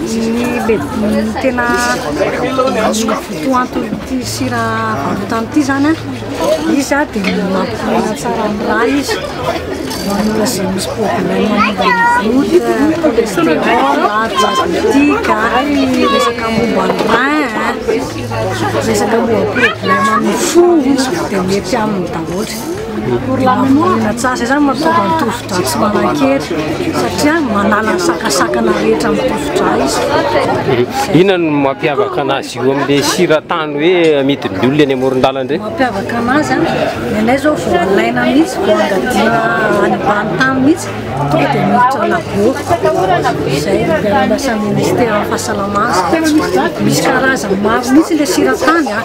Ny tena votoanton'ity sira varotany ity zany an, izy an dia mampihena tsara ny rà izy, ho an'olona izay misy problème momba ny goutte, cholestérol, diabétique, ary resaka momba ny rein an, resaka momba problème amin'ny fo dia mety aminy daholo. Pour la mémoire, tena tsara izany mahatonga ny tosidra tsy manan-kery satria manala ny sakasakana rehetra amin'ny tosidra izy. Inona no mampiavaka anazy io amin'ilay siratany hoe amidin'ny olona eny amoron-dalana ireny? Mampiavaka anazy an, ny anay izao vao alaina mihitsy, vao angadiana any ambany tany mihitsy, tonga dia miditra lagoa, izay dia andrasan'ny Ministera fahasalamana, misy karazany maro mihitsy ilay siratany an.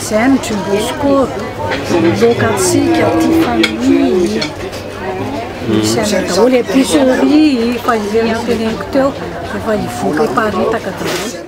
J'aime John Bosco, loka antsika, tia famille, misy anay daholo, epicerie, fa ireny teneniko teo, efa hivoaka hiparitaka daholo.